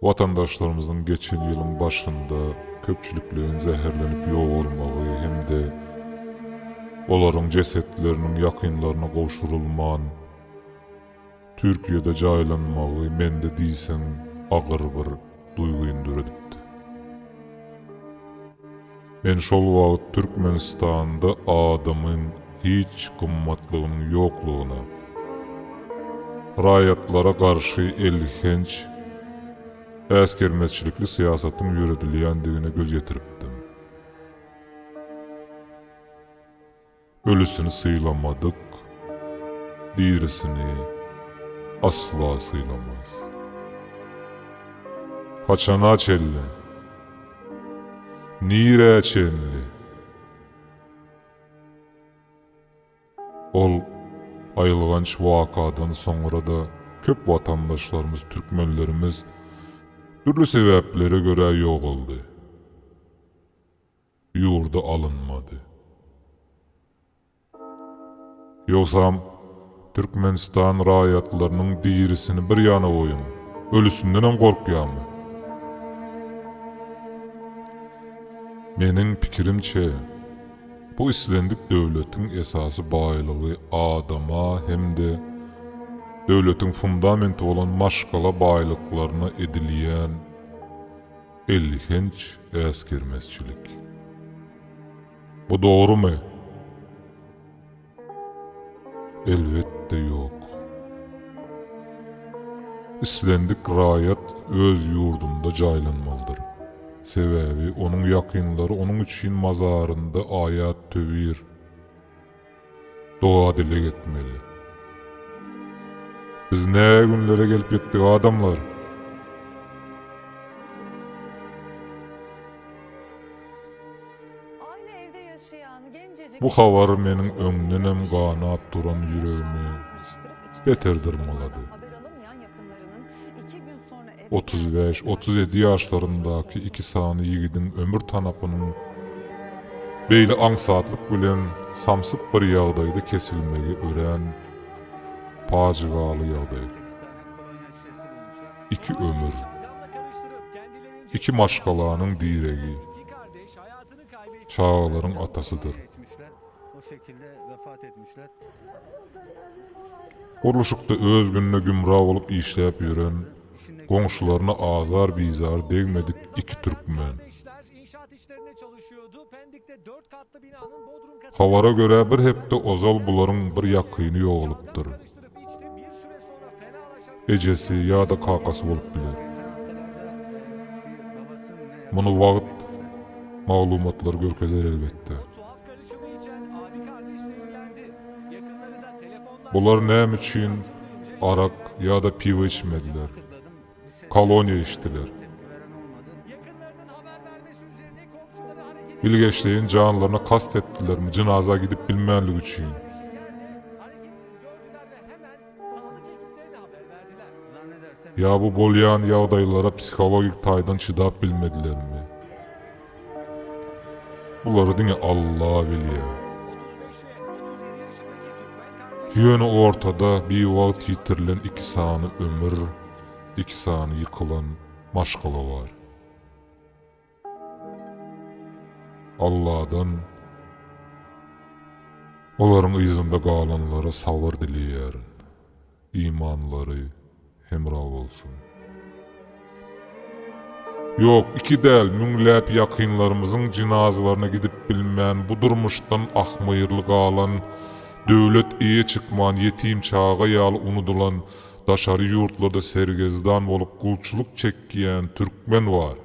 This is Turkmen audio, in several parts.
Watandaşlarymyzyň geçen ýylyň başynda köpçülikleýin zäherlenip ýogalmagy hem-de olaryň jesetleriniň ýakynlaryna gowşurylman, Türkiýede jaýlanmagy mende diýseň agyr bir duýgyny döredipdi. Men şol wagt Türkmenistanda adamyň hiç gymmatlygynyň ýoklugyna, raýatlara garşy elhenç äsgermezçilikli syýasatyň ýöredilýändigine göz ýetiripdim. Ölüsini sylamadyk, dirisini asla sylamaz. Haçana çenli? Nirä çenli? Ol aýylganç wakadan soňra-da köp watandaşlarymyz, türkmenlerimiz dürli sebäplere görä ýogaldy. ýurda alynmady. Ýogsam, Türkmenistan raýatlarynyň dirisini bir ýana goýuň, ölüsindenem gorkýarmy? Meniň pikirimçe, bu islendik döwletiň esasy baýlygy adama hem-de döwletiň fundamenti bolan maşgala baýlyklaryna edilýän, Elhenç äsgermezçilik. Bu dogrumy? Elbetde ýok. Islendik raýat öz ýurdunda jaýlanmalydyr. Sebäbi onuň ýakynlary onuň üçin mazarynda aýat-töwir, Doga-dileg etmeli. Biz nä günlere gelip ýetdik adamlar? Bu habar meniň öňdenem ganap duran ýüregimi beter dyrmalady. Otuz bäş, otuz ýedi ýaşlaryndaky iki sany ýigidiň ömür tanapynyň beýle aňsatlyk bilen samsyk bir ýagdaýda kesilmegi örän pajygaly ýagdaý. Iki ömür. Iki maşgalanyň diregi. Çagalaryň atasydyr. Gurluşykda öz gününe gümra bolup işläp ýören, goňşularyna azar-bizary degmedik iki türkmen. Habara görä, bir hepde ozal bularyň bir ýakyny ýogalypdyr. Artdyryp içdi, bir süre soňra fenalaşan Ejesi ýa-da kakasy bolup biler. Muny wagt maglumatlar görkezer elbetde. Bular näme üçin arak ýa-da piwo içmediler? koloniýa eşidiler. Bilgeşleýin janlaryna kast etdilermi jynaza gidip bilmänligi üçin? Ýa bu bolýan ýagdaýlara psihologik taýdan çydap bilmedilermi? Bulary diňe Alla bilýär. Ýöne ortada biwagt ýitirilen iki sany ömür, iki sany ýykylan maşgala bar. Alladan olaryň yzynda galanlara sabyr dileýärin. Imanlary hemra bolsun. Ýok, iki däl, müňläp ýakynlarymyzyň jynazalaryna gidip bilmän, bu durmuşdan ahmyrly galan, döwlet eýe çykman, ýetim çaga ýaly unudylan, daşary ýurtlarda sergezdan bolup gulçulyk çekýän türkmen bar.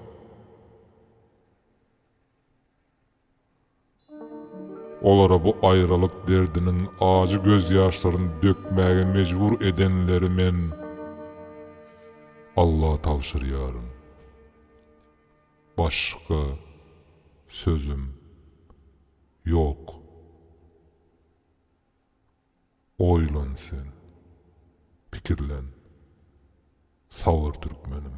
Olara bu aýralyk derdiniň ajy gözýaşlaryny dökmäge mejbur edenleri men Alla tabşyrýaryn. Başga sözüm ýok. Oýlan sen. Pikirlen. Sabyr türkmenim.